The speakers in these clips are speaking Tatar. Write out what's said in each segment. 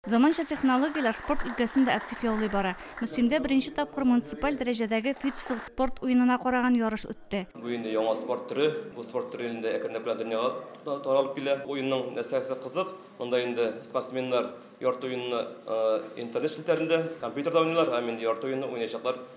Заманча технологияләр спорт өлкәсен дә актив яулый бара. Мөслимдә беренче тапкыр муниципаль дәрәҗәдәге фидстыл спорт уенына караган ярыш үтте. Бу инде яңа спорт төре. Бу спорт төре инде әкренләп кенә дөньяга да таралып килә. Уенның нәрсәсе кызык, монда инде спортсменнар ярты уенны интернет челтәрендә, компьютерда уйныйлар, һәм инде ярты уенны уйнаячаклар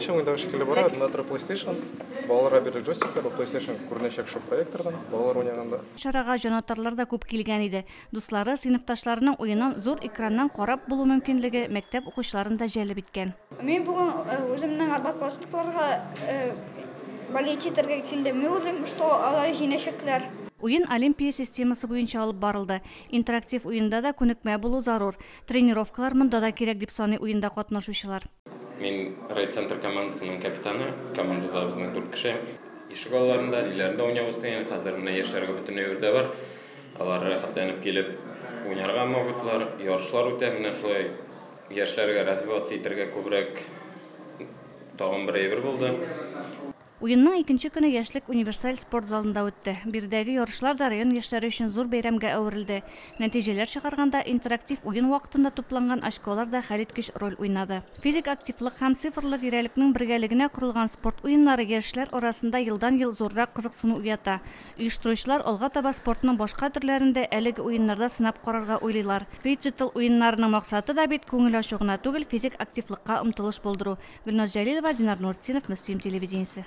Шуң инде шикелле бара, анда тора PlayStation. Балаларга бирде джойстиклар, ул PlayStation күренәчәк шул проектордан, балалар уйнаганда. Чарага җанатарлар да күп килгән иде. Дуслары, сыйныфташларының уенын зур экраннан карап булу мөмкинлеге мәктәп укучыларын да җәлеп иткән. Мин бүген үземнең однокласникларга болеть итәргә килдем. Мин уйлыйм, что алар җиңәчәкләр. Уен олимпия системасы буенча алып барылды. Интерактив уенда да күнекмә булу зарур. Тренировкалар монда да кирәк, дип саный уенда катнашучылар. Мин райцентр командасының капитаны. Командада безнең дүрт кеше. Ишек алларында, ниләрендә уйнавыз дигән. Хәзер менә яшьләргә бөтенләй үрдә бар. Алар рәхәтләнеп килеп уйнарга могутлар. Ярышлар үтә, менә шулай яшьләргә развиваться итәргә күбрәк тагын бер әйбер булды. Уенның икенче көне Яшьлек универсаль спорт залында үтте. Биредәге ярышлар да район яшьләре өчен зур бәйрәмгә әверелде. Нәтиҗәләр чыгарганда, интерактив уен вакытында тупланган очколар да хәлиткеч роль уйнады. Физик активлык һәм цифрлы тирәлекнең бергәлегенә корылган спорт уеннары яшьләр арасында елдан-ел зуррак кызыксыну уята. Оештыручылар алга таба спортның башка төрләрен дә әлеге уеннарда сынап карарга уйлыйлар. Фиджитал уеннарының максаты да бит күңел ачу гына түгел, физик активлыкка омтылыш булдыру. Гөлназ Җәлилова, Динар Нуртдинов, Мөслим телевидениесе.